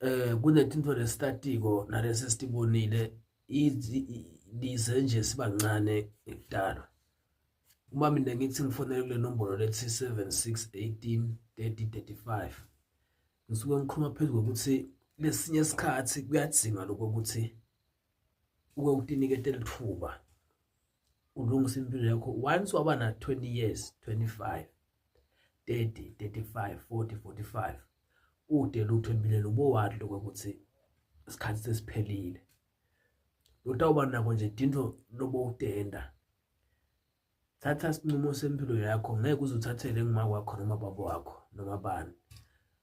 eh kunethinto lestatiko nalesi sitibonile lize nje sibancane ngekudalwa uma mina ngithi ngifonele kule nombolo lethi 7618 3035 ngisuke ngikhuluma phezu kokuthi lesinye isikhathi kuyadzinga lokho ukuthi uke utiniketele ithuba ulungisa impilo yakho once waba na 20 years 25 30 35 40 45 ude lutho empilweni ubowathi lokho ukuthi isikhathi sesiphelile lotawuba nako nje dinto lobo utenda thatha isinqumo sempilo yakho ngeke uzuthathele ngima kwakho noma baba wakho noma bani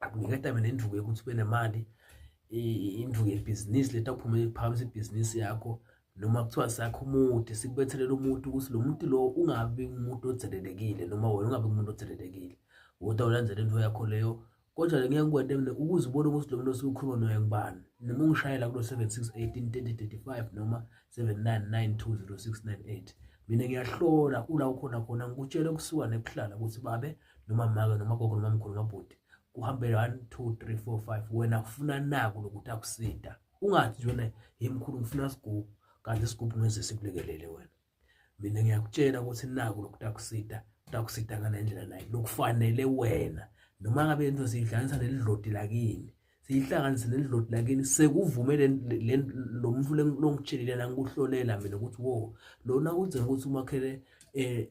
akuniketa mina induku yokuthi ube nemali induku yebhizinisi leta uphume phamisa ibhizinisi yakho noma kuthiwa sakho umude sikubethelela umuntu ukuthi lo muntu lo ungabi umuntu othelelekile noma wena ungabi umuntu othelelekile kodwa ulandela into yakho leyo kodwa ngeke ngikwente mina ukuze ubone ukuthi lo muntu osukhuluma naye ngubani noma ungishayela kulo 7618 noma 79920698 mina ngiyahlola ula ukhona khona ngikutshele kusuka nebuhlala ukuthi babe noma maka noma gogo noma mkhulu noma bhuti kuhambele 1 2 3 4 5 wena ufuna naku lokuthi akusida ungathi wena hey mkhulu ngifuna isigubhu kanti isigubhu ngeze sikulekelele wena mina ngiyakutshela ukuthi naku lokuthi akusida utakusida ngale ndlela naye lokufanele wena noma ngabe into siyihlanganisa nelidlodi lakini siyihlanganise nelidlodi lakini sekuvume lo mfu longitshelile nangikuhlolela mina ukuthi wo lona kunzeka ukuthi umakhele um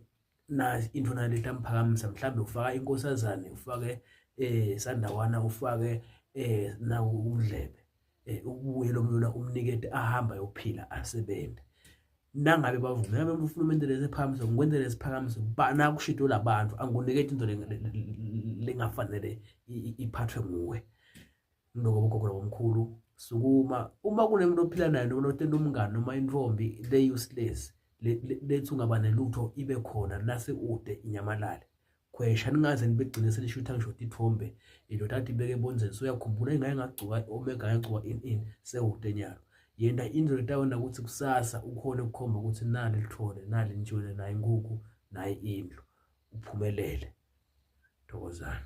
na into na leta mphakamisa mhlambe ufaka inkosazane ufake eh sandawana ufake eh na umdlebe eh ubuye lomlula umnikete ahamba yophila asebenze nangabe bavume ngabe ufuna umendele esiphakamiso ngikwenzele isiphakamiso bana kushito labantu angikunike into lengafanele iphathwe nguwe mlungu obogogo nabomkhulu sukuma uma kunemuntu ophila naye noma otenda umngane noma intombi le useless lethi ungaba nelutho ibe khona nase ude inyamalale khwesha ningaze nibegcine senishutha ngisho ithombe indoda athi ibeke ebonzeni soyakhumbula ingaye ngagcuka omega yagcuka in in sewude nyalo yena indlela etawona ukuthi kusasa ukhona ukukhomba ukuthi nali lithole nali nitshwele naye inkukhu naye indlu uphumelele thokozani